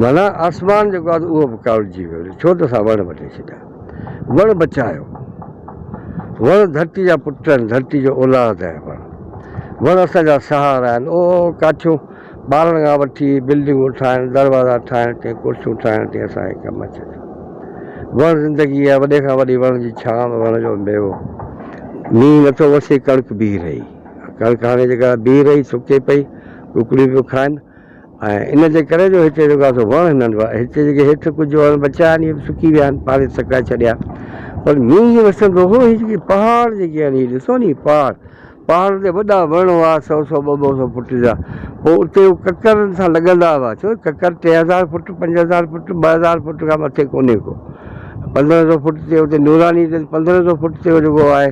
ڀلا آسمان جيڪو آهي اهو به ڪاوڙجي ويو، ڇو ته اسان وڻ وڍي ڇڏيا، وڻ بچايو، وڻ ڌرتي جا پٽ آهن، ڌرتي جو اولاد آهي وڻ، وڻ اسان جا سهارا آهن، او ڪاٺيون ٻارڻ کان وٺي بلڊنگون ٺاهڻ، دروازا ٺاهڻ تائين، ڪرسيون ٺاهڻ تائين اسان کي ڪم اچي ٿو، وڻ زندگي آهي، وڏي کان وڏي وڻ جي ڇانو، وڻ جو ميوو، مينهن نٿو وسي ڪڻڪ بيهي رهي، ڪڻڪ هاڻي جيڪا بيهي رهي سڪي پئي، ڪڪڙيون پيون کائن. ۽ ان جي ڪري جو هتي جيڪو آهي سو وڻ هنن هئا. هتي جيڪي هيٺ ڪجهه وڻ بچيا آهن اهي به سڪي ويا آهن، پاڙي سڪائي ڇڏيا. پر مينهن جي وسندو هو هي جيڪي پهاڙ جيڪي آهن هي ڏسو ني پهاڙ، پهاڙن تي وڏا وڻ هئا سؤ سؤ ٻه ٻه سؤ فوٽ جا. پوء اتي هو ڪڪرن سان لڳندا هئا. ڇو جو ڪڪر ٽي هزار فوٽ، پنج هزار فوٽ، ٻه هزار فوٽ کان مٿي ڪونهي ڪو. پندرهن سؤ فوٽ تي اتي نوراني تي پندرهن سؤ فوٽ تي هو جيڪو آهي.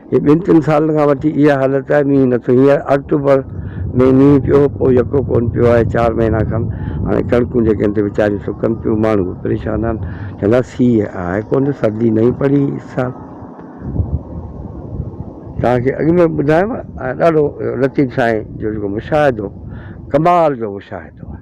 هي ٻن ٽن سالن کان وٺي اها حالت آهي مينهن نه ٿو هينئر آڪٽوبر ۾ مينهن پيو پوء يڪو ڪون پيو آهي چار مهينا کن هاڻي ڪڻڪون جيڪي آهن تي ويچاريون سڪن پيون ماڻهو به پريشان آهن چوندا سيء آهي ڪون ته سردي نهين پڙي اس سال توهان کي اڳ ۾ ٻڌايم ڏاڍو لطيف سائين جو جيڪو مشاهدو ڪمال جو مشاهدو آهي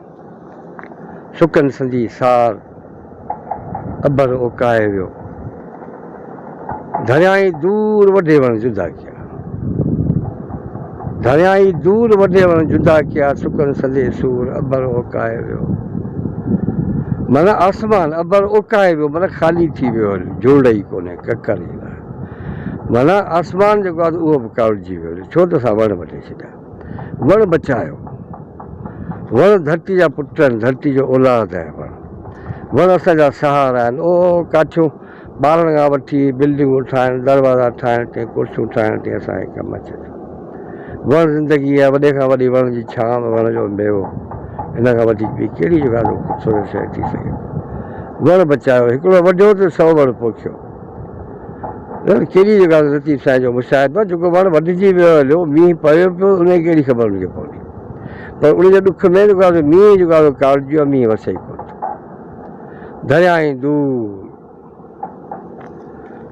سڪن سندي سار اڀر اوڪائي ويو. ڌريائين دور وڍي وڻ جدا ڪيا. ڌريائين دور وڍي وڻ جدا ڪيا سڪن سندي سور اڀر اوڪائي ويو. من آسمان اڀر اوڪائي ويو من خالي ٿي ويو جوڙ ئي ڪونهي ڪڪر ئي لاء. من آسمان جيڪو آهي اهو به ڪاوڙجي ويو ڇو ته اسان وڻ وڍي ڇڏيا. وڻ بچايو وڻ ڌرتي جا پٽ آهن ڌرتي جو اولاد آهي وڻ وڻ اسان جا سهارا آهن او ڪاٺيون ٻارڻ کان وٺي بلڊنگون ٺاهڻ دروازا ٺاهڻ تي ڪرسيون ٺاهڻ تي اسان کي ڪم اچي ٿو وڻ زندگي آهي وڏي کان وڏي وڻ جي ڇانو وڻ جو ميوو ان کان وڌيڪ ٻي ڪهڙي جيڪا خوبصورت شيء ٿي سگهي وڻ بچايو هڪڙو وڍيو ته سؤ وڻ پوکيو ڄڻ ڪهڙي جڳهه تي لطيف سائين جو مشاهدو آهي، جيڪو وڻ وڍجي ويو هليو، مينهن پيو پيو، ان جي ڪهڙي خبر هن کي پوندي؟ پر ان جي ڏک ۾ جيڪو آهي مينهن جيڪو آهي ڪارجيو آهي، مينهن وسي ئي ڪونه ٿو. درياهين دور،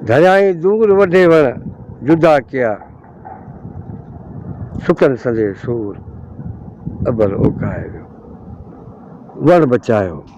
درياهين دور وڍي وڻ جدا ڪيا، سڪن سندي سور اٻر اوڪائي ويو، وڻ بچايو.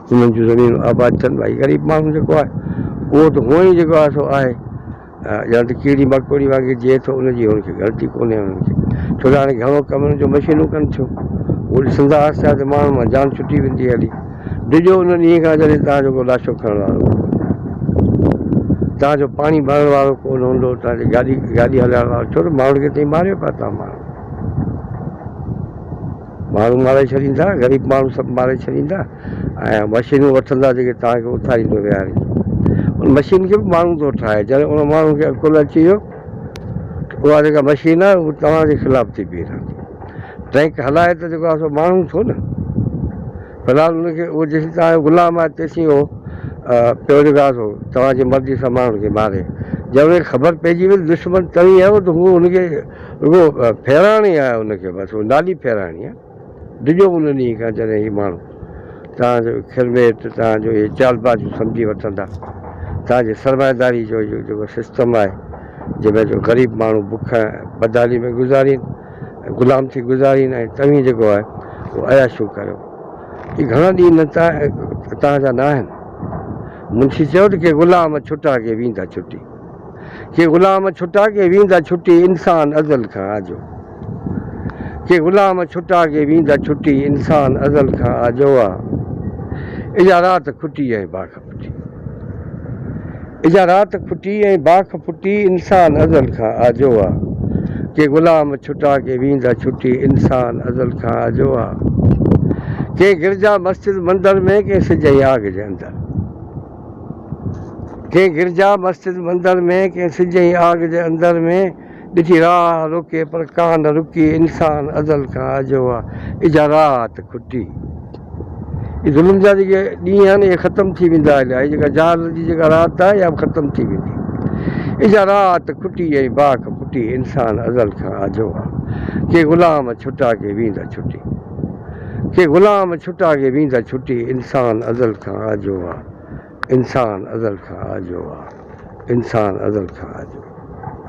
انهن جون زمينون آباد ٿين ڀائي غريب ماڻهو جيڪو آهي اهو ته هونئن ئي جيڪو آهي سو آهي ڄڻ ته ڪيڙي مڪوڙي وانگي جيئي ٿو ان جي هن کي غلطي ڪونهي انهن کي ڇو ته هاڻي گهڻو ڪم انهن جو مشينون ڪن ٿيون اهو ڏسندا آهسته آهسته ماڻهن مان جان ڇٽي ويندي هلي ڊڄو ان ڏينهن کان جڏهن تان جو ڪو لاشو کڻڻ وارو ڪونهي تان جو پاڻي ڀرڻ وارو ڪونه هوندو تان جو گاڏي گاڏي هلائڻ وارو ڇو ته ماڻهن کي تئي ماريو پيا تان ماڻهن ماڻهو ماري ڇڏيندا، غريب ماڻهو سڀ ماري ڇڏيندا ۽ مشينون وٺندا جيڪي توهان کي اٿاريندو ويهاريندو. ان مشين کي به ماڻهو ٿو ٺاهي. جڏهن ان ماڻهو کي عقل اچي ويو ته اها جيڪا مشين آهي اها توهان جي خلاف ٿي بيهي رهندي. ٽريڪ هلائي ته جيڪو آهي سو ماڻهو ٿو نه. في الحال ان کي اهو جيسين توهان جو غلام آهي تيسين اهو پيو جيڪو آهي سو توهان جي مرضي سان ماڻهن کي ماري. جڏهن ان کي خبر پئجي وئي ته دشمن توهين آهيو ته هو ان کي رڳو ڦيرائڻ ئي آهي ان کي، بس نالي ڦيرائڻي آهي. ڊڄو ان ڏينهن کان جڏهن هي ماڻهو توهان جو کيرميٽ، توهان جو اهي چالبازيون سمجهي وٺندا. توهان جي سرمائيداري جو اهو جيڪو سسٽم آهي، جنهن ۾ جو غريب ماڻهو بک ۽ بدحالي ۾ گذارين، غلام ٿي گذارين ۽ توهين جيڪو آهي اهو عياشيون ڪريو. اهي گهڻا ڏينهن توهان جا نه آهن. منشي چيو ته ڪي غلام ڇٽا ڪي ويندا ڇٽي. ڪي غلام ڇٽا ڪي ويندا ڇٽي انسان ازل کان آجو ڪي غلام ڇٽا ڪي ويندا ڇٽي انسان ازل کان آجو آ اجا رات کٽي ۽ باک ڦٽي اجا رات کٽي ۽ باک ڦٽي انسان ازل کان آجو آ ڪي غلام ڇٽا ڪي ويندا ڇٽي انسان ازل کان آجو آ ڪي گرجا مسجد مندر ۾ ڪي سج ۽ آگ جي اندر ڪنهن گرجا، مسجد، مندر ۾، ڪنهن سج ۽ آگ جي اندر ۾، ڏٺي راهه روڪي پر ڪا نه رڪي، انسان ازل کان اجهو آ، اجها راهت کٽي. اي ظلم جا جيڪي ڏينهن آهن اهي ختم ٿي ويندا اليا، هي جيڪا جهالت جي جيڪا رات آ اها به ختم ٿي ويندي. اجها راهت کٽي ۽ باک ڦٽي، انسان ازل کان اجهو آ، ڪي غلام ڇٽا ڪي ويندا ڇٽي. ڪي غلام ڇٽا ڪي ويندا ڇٽي انسان ازل کان آجو آ انسان ازل کان آجو آ انسان ازل کان آجو.